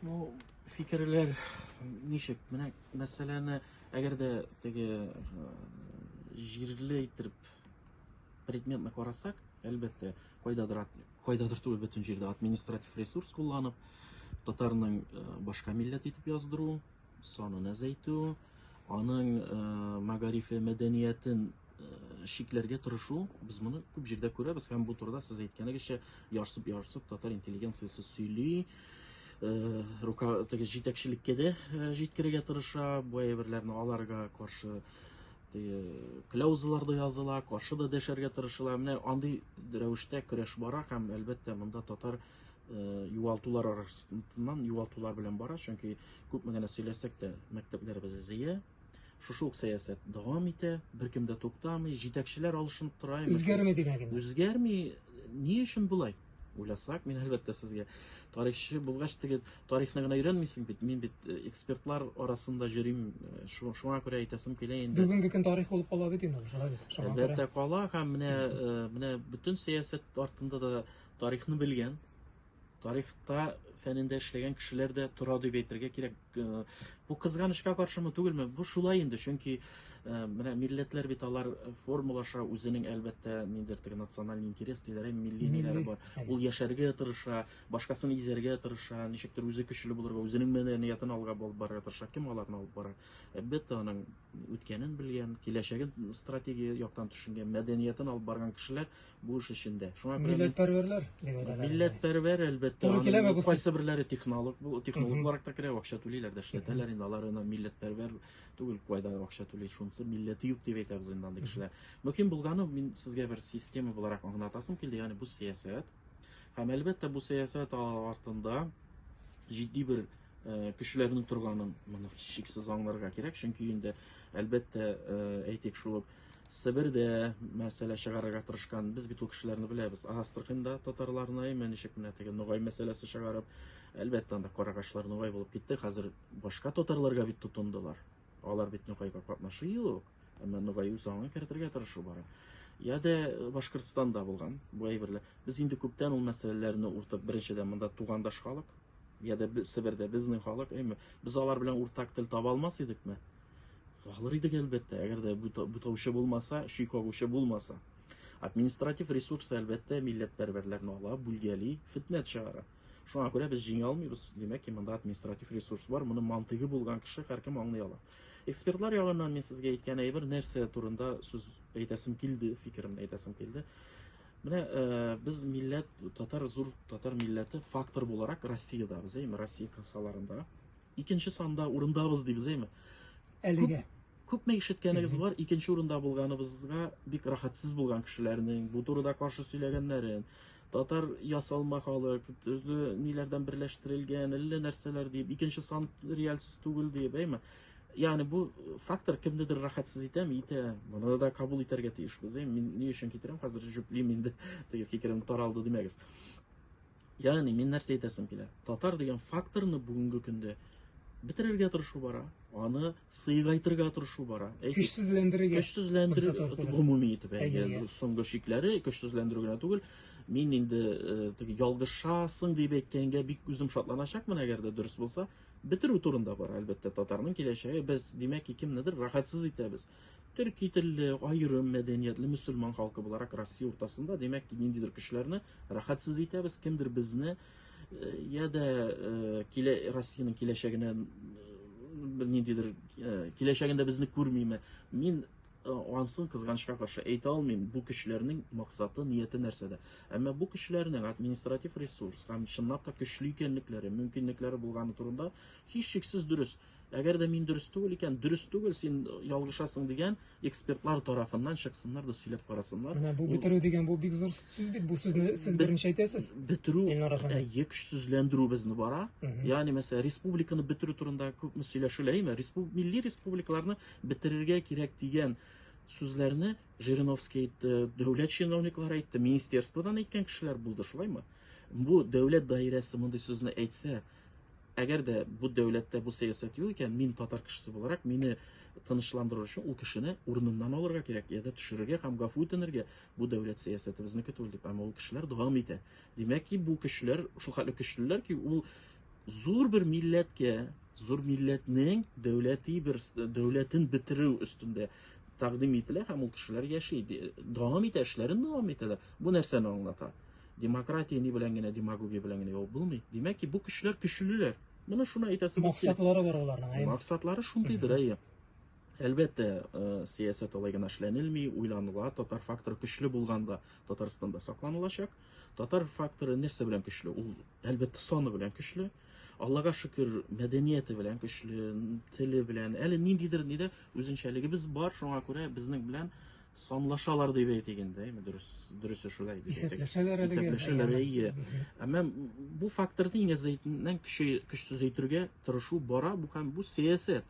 Ну, фикерләр ничек? Менә мәсьәләне, әгәр дә теге э, җирле итеп предметны карасак, әлбәттә, кайдадыр кайдадыр түгел бөтен җирдә административ ресурс кулланып, татарның э, башка милләт итеп яздыру, санын әзәйтү, аның э, мәгарифе, мәдәниятен шикләргә тырышу, без моны күп җирдә күрәбез һәм бу турыда сез әйткәнегезчә ярсып-ярсып татар интеллигенциясе сөйли. Э, рука теге җитәкчелеккә дә э, җиткерергә тырыша, бу әйберләрне аларга каршы теге кляузалар да языла, каршы да дәшәргә тырышыла. Менә андый рәвештә көрәш бара һәм әлбәттә монда татар э, югалтулар арасыннан югалтулар белән бара, чөнки күпме генә сөйләсәк тә мәктәпләребез зыя, Шушы ук сәясәт дәвам итә, беркем дә туктамый, җитәкчеләр алышынып тора. Үзгәрми генә генә. Үзгәрми, ни өчен болай? Уйласак, мин әлбәттә сезгә тарихчы булгач теге тарихны гына өйрәнмисең бит. Мин бит э, экспертлар арасында йөрим, э, шуңа күрә әйтәсем килә инде. Бүгенге көн тарих булып кала бит инде, шулай бит. Әлбәттә кала һәм менә э, менә бөтен сәясәт артында да тарихны белгән тарихта фәнендә эшләгән кешеләр дә тора дип әйтергә кирәк. Э, бу кызганычка каршымы түгелме? Бу шулай инде, чөнки э, менә милләтләр бит алар формулаша үзенең әлбәттә ниндер теге националь интерес диләр, ә милли ниләре бар. Ул яшәргә тырыша, башкасын изәргә тырыша, ничектер үзе көчле булырга, үзенең мәдәниятен алга алып барырга тырыша. Кем аларны алып бара? Әлбәттә, аның үткәнен белгән, киләчәген стратегия яктан төшенгән, мәдәниятен алып барган кешеләр бу эш эчендә. Шуңа күрә милләтпәрвәрләр. Милләтпәрвәр әлбәттә. Кайсы берләре технолог, бу технолог буларак та керә, акча түлиләр дә эшләтәләр инде. Алар ана милләтпәрвәр түгел, кайда акча түли, шунысы милләте юк дип әйтәбез инде андый кешеләр. Мөһим булганы мин сезгә бер система буларак аңлатасым килде, ягъни бу сәясәт. Һәм әлбәттә бу сәясәт артында җитди бер Э, кешеләрнең торганын моны шиксез аңларга кирәк чөнки инде әлбәттә э, әйтик шул ук себердә мәсьәлә чыгарырга тырышкан без бит ул кешеләрне беләбез астраханьда татарларны имән ничек менә теге ногай мәсьәләсе чыгарып әлбәттә анда карагашлар ногай булып китте хәзер башка татарларга бит тотындылар алар бит ногайга катнашы юк әмма ногай үз аңын кертергә тырышу бара я дә э, башкортстанда булган бу әйберләр без инде күптән ул мәсьәләләрне уртып беренчедән монда тугандаш халык я дә себердә безнең халык әйме без алар белән уртак тел таба алмас идекме алыр идек әлбәттә әгәр дә бутаучы булмаса чөй кагучы булмаса административ ресурсы әлбәттә милләтпәрвәрләрне ала бүлгәли фетнә чыгара Шуңа күрә без җиңә алмыйбыз, димәк ки, монда административ ресурс бар, моны мантыйгы булган кеше һәркем аңлый ала. Экспертлар ягыннан мин сезгә әйткән әйбер нәрсә турында сүз әйтәсем килде, фикеремне әйтәсем килде. Менә э, без милләт, татар зур татар милләте фактор буларак Россиядә без, әйме, Россия кысаларында. Икенче санда урындабыз дибез, әйме. Әлегә. Күпме ишеткәнегез бар, икенче урында булганыбызга бик рахатсыз булган кешеләрнең бу турыда каршы сөйләгәннәрен, Татар ясалма халык, төрле ниләрдән берләштерелгән, әллә нәрсәләр диеп, икенче сан рельс түгел диеп, әйме? Ягъни бу фактор кемнедер рәхәтсез итәме, итә. Моны да кабул итәргә тиешбез. Әйме, мин ни өчен китерәм, хәзер җөплим инде, теге фикерем таралды димәгез. Ягъни мин нәрсә әйтәсем килә? Татар дигән факторны бүгенге көндә бетерергә тырышу бара. Аны сыйгайтырга тырышу бара. Көчсезләндерергә. Көчсезләндерергә гомуми итеп әйгән соңгы шикләре көчсезләндерү генә түгел. Мин инде теге ялгышасың дип әйткәнгә бик үзем шатланачакмын, әгәр дә дөрес булса. Бетерү турында бара, әлбәттә, татарның киләчәге. Без, димәк, кемнедер рәхәтсез итәбез. Төрки телле, аерым мәдәниятле мөселман халкы буларак Россия уртасында, димәк, ниндидер көчләрне рәхәтсез итәбез, кемдер безне я да килә Россиянең киләчәгенә бер ниндидер киләчәгендә безне күрмиме? Мин ансын кызганычка каршы әйтә алмыйм, бу кешеләрнең максаты, нияте нәрсәдә. Әмма бу кешеләрнең административ ресурс һәм чынлап та көчле икәнлекләре, мөмкинлекләре булганы турында һичшиксез дөрес. Әгәр дә мин дөрес түгел икән, дөрес түгел, син ялгышасың дигән экспертлар тарафыннан чыксыннар да сөйләп карасыннар. Менә бу бетерү дигән бу бик зур сүз бит. Бу сүзне сез беренче әйтәсез. Бетерү әйе көчсезләндерү безне бара. Ягъни мәсәлән, республиканы бетерү турында күпме сөйләшелә, әйме? Респуб милли республикаларны бетерергә кирәк дигән сүзләрне Жириновский әйтте, дәүләт чиновниклары әйтте, министерстводан әйткән кешеләр булды, шулаймы? Бу дәүләт даирәсе мондый сүзне әйтсә, Әгәр дә бу дәүләттә бу сәясәт юк икән, мин татар кешесе буларак, мине тынычландыру өчен ул кешене урыныннан алырга кирәк, я да төшерергә һәм гафу үтенергә. Бу дәүләт сәясәте безнеке түгел дип, әмма ул кешеләр дәвам итә. Димәк ки, бу көчләр шул хәтле көчлеләр ки, ул зур бер милләткә, зур милләтнең дәүләти бер дәүләтен бетерү өстендә тәкъдим ителә һәм ул кешеләр яши, дәвам итә, эшләрен дәвам итәләр. Бу нәрсәне аңлата? Демократия ни белән генә, демагогия белән генә ябып булмый. Димәк ки, бу көчләр көчлеләр. Менә шуны әйтәсебез килә. Максатлары бар аларның, әйе. Максатлары шундыйдыр, әйе. Әлбәттә, э, сәясәт алай гына эшләнелми, уйланыла. Татар факторы көчле булганда Татарстанда сакланылачак. Татар факторы нәрсә белән көчле? Ул, әлбәттә, саны белән көчле. Аллага шөкер, мәдәнияте белән көчле, теле белән. Әле ниндидер нидә үзенчәлегебез бар, шуңа күрә безнең белән Санлашалар дип әйтик инде, әйме, дөрес, дөресе шулай дип әйтик. Исәпләшәләр әлегә. Исәпләшәләр, әйе. Әмма бу факторны иң әзәйтеннән көче, көчсез әйтергә тырышу бара, бу һәм бу сәясәт.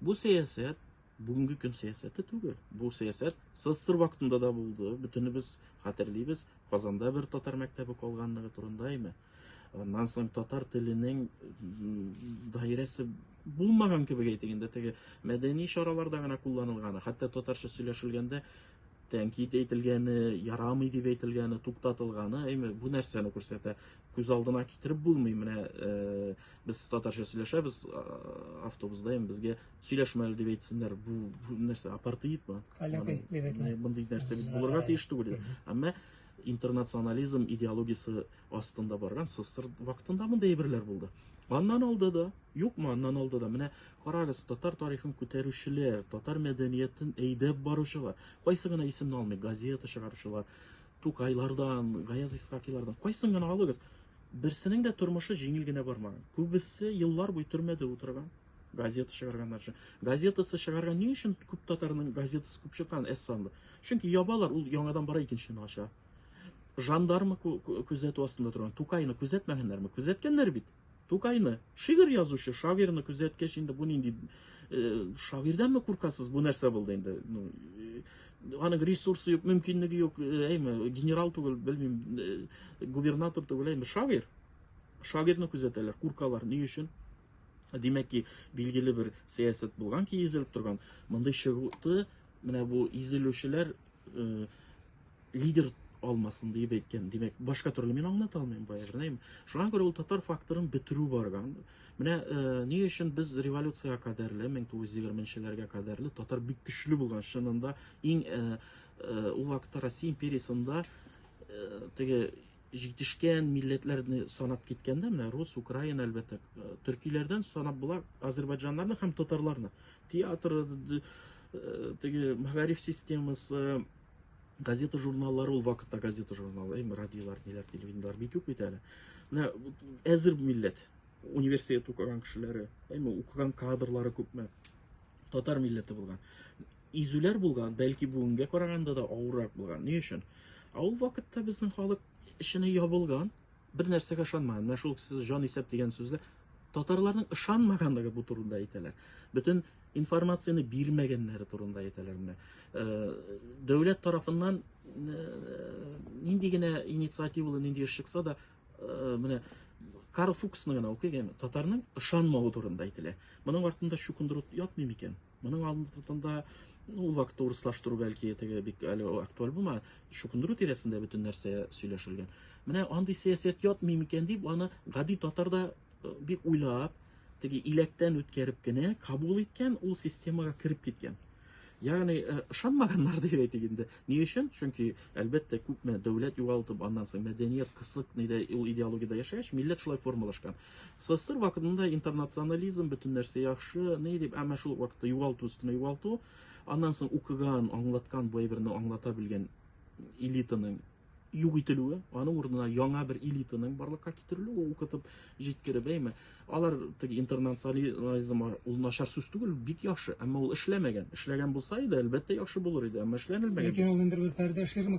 Бу сәясәт бүгенге көн сәясәте түгел. Бу сәясәт СССР вакытында да булды. Бөтенебез хәтерлибез, Казанда бер татар мәктәбе калганлыгы турында, әйме. Аннан соң татар теленең даирәсе булмаган кебек әйтик инде теге мәдәни чараларда гына кулланылганы, хәтта татарча сөйләшелгәндә тәнкит әйтелгәне, ярамый дип әйтелгәне, туктатылганы, әйме, бу нәрсәне күрсәтә. Күз алдына китереп булмый. Менә э, без татарча сөйләшәбез э, автобуста, әйме, безгә сөйләшмәле дип әйтсеннәр. Бу, бу нәрсә апартеидмы? Мондый нәрсә бит булырга тиеш түгел. Әмма Интернационализм идеологиясе астында барган СССР вакытында мондый әйберләр булды. Аннан алды да, юкмы, аннан алды да. Менә карагыз, татар тарихын күтәрүчеләр, татар мәдәниятен әйдәп баручылар, кайсы гына исемне алмый, газета чыгаручылар, Тукайлардан, Гаяз Исхакилардан, кайсын гына алыгыз. Берсенең дә тормышы җиңел генә бармаган. Күбесе еллар буе төрмәдә утырган. газета чыгарганнар өчен газетасы чыгарган ни өчен күп татарның газетасы күп чыккан әз санлы чөнки ябалар ул яңадан бара икенчесен ача жандармы күзәтү астында торган тукайны күзәтмәгәннәрме күзәткәннәр бит тукайны шигырь язучы шагыйрьне күзәткәч инде бу нинди э, шагыйрьдәнме куркасыз бу нәрсә булды инде ну, э, аның ресурсы юк мөмкинлеге юк э, әйме генерал түгел белмим э, губернатор түгел әйме шагыйрь шагыйрьне күзәтәләр куркалар ни өчен Димәк ки, билгеле бер сәясәт булган ки, изелеп торган. Мондый чыгуты менә бу изелүчеләр э, лидер алмасын диеп әйткән. Димәк, башка төрле мин аңлата алмыйм баягырнайым. Шуңа күрә ул татар факторын бетерү барган. Менә э, ни өчен без революциягә кадәрле, 1920-ләргә кадәрле татар бик көчле булган чынында иң э, э, ул вакытта Россия империясында э, теге Җитешкән милләтләрне санап киткәндә, менә рус, украин, әлбәттә, төркиләрдән санап була азербайджаннарны һәм татарларны. Театр, теге мәгариф системасы, газета журналлары ул вакытта газета журналы эми радиолар ниләр телевидениелар бик юк бит әле менә әзер милләт университет укыган кешеләре эми укыган кадрлары күпме татар милләте булган изүләр булган, бәлки бүгенгә караганда да авыррак булган. Ни өчен? Ә ул вакытта безнең халык эченә ябылган, бер нәрсәгә ышанмаган. Менә шул сез җан исәп дигән сүзләр татарларның ышанмаганлыгы бу турында әйтәләр. Бөтен информацияне бирмәгәннәре турында әйтәләр менә. Э, дәүләт тарафыннан э, нинди генә инициативалы нинди эш чыкса да э, менә Карл Фуксны гына укыйк, татарның ышанмавы турында әйтелә. Моның артында чукындыру ятмый микән? Моның алдында ну, ул вакытта урыслаштыру бәлки теге бик әле актуаль булма, чукындыру тирәсендә бөтен нәрсә сөйләшелгән. Менә андый сәясәт ятмый микән дип, аны гади татар да э, бик уйлап, теге иләктән үткәреп кенә кабул иткән, ул системага кереп киткән. Ягъни э, ышанмаганнар дип әйтик инде. Ни өчен? Чөнки әлбәттә күпме дәүләт югалтып, аннан соң мәдәният кысык, нидә ул идеологиядә яшәгәч, милләт шулай формалашкан. СССР вакытында интернационализм, бөтен нәрсә яхшы, ни дип, әмма шул ук вакытта югалту өстенә югалту, аннан соң укыган, аңлаткан, бу әйберне аңлата белгән элитаның юк ителүе, аның урынына яңа бер элитаның барлыкка китерелүе, укытып җиткереп, әйме. Алар теге интернационализм ул начар сүз түгел, бик яхшы, әмма ул эшләмәгән. Эшләгән булса иде, әлбәттә яхшы булыр иде, әмма эшләнелмәгән. Ләкин ул инде бер пәрдә ширма